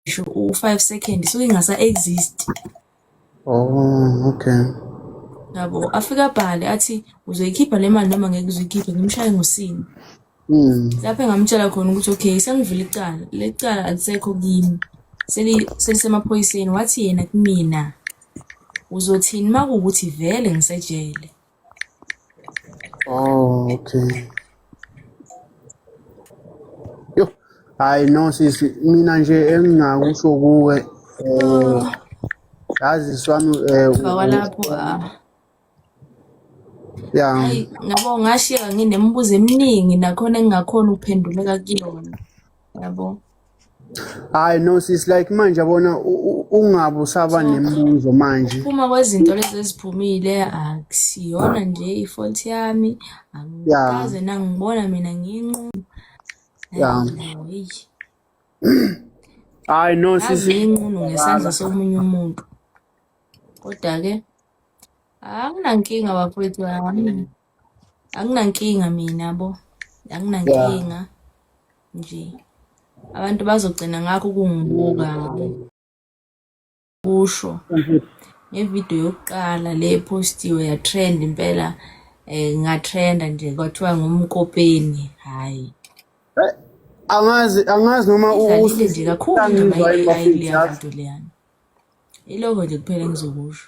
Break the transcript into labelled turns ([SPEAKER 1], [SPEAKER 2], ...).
[SPEAKER 1] ngisho u-five second so ingasa-exist oh
[SPEAKER 2] okay yabo
[SPEAKER 1] afike abhale athi uzoyikhipha le mali noma ngeke uzoyikhiphe ngimshaye ngosini hmm. lapho engamtshela khona ukuthi okay sengivula icala le cala alisekho kimi selisemaphoyiseni wathi yena kumina uzothini uma kuwukuthi vele ngisejele
[SPEAKER 2] Oh, okay. Yo, hayi no sisi, mina nje engingakusho kuwe eh yazi swami eh Baba lapho
[SPEAKER 1] ah.
[SPEAKER 2] ya Hayi nabo
[SPEAKER 1] ngashiya nginembuzo eminingi nakhona engingakhona ukuphenduleka kuyona. yabo
[SPEAKER 2] hayi no sis like manje yabona ungabe usaba nemibuzo manje Ukuphuma kwezinto lezi
[SPEAKER 1] eziphumile akusiyona nje ifault yami angikaze nangibona mina ngiyinqumo
[SPEAKER 2] Yeah. Hayi, heyi hayi no ngaze sis ngiyinqumo
[SPEAKER 1] ngesandla somunye umuntu kodwa-ke anginankinga bafowethu yami akunankinga mina bo akunankinga nje abantu bazogcina ngakho kungibuka kusho ngevidiyo yokuqala le postiwe yatrend impela um ngatrenda nje kwathiwa ngumkopeni hhayi eh, angazi
[SPEAKER 2] angazi noma idlalile nje kakhulu
[SPEAKER 1] indaba ayileya nto leyana iloko nje kuphela engizokusho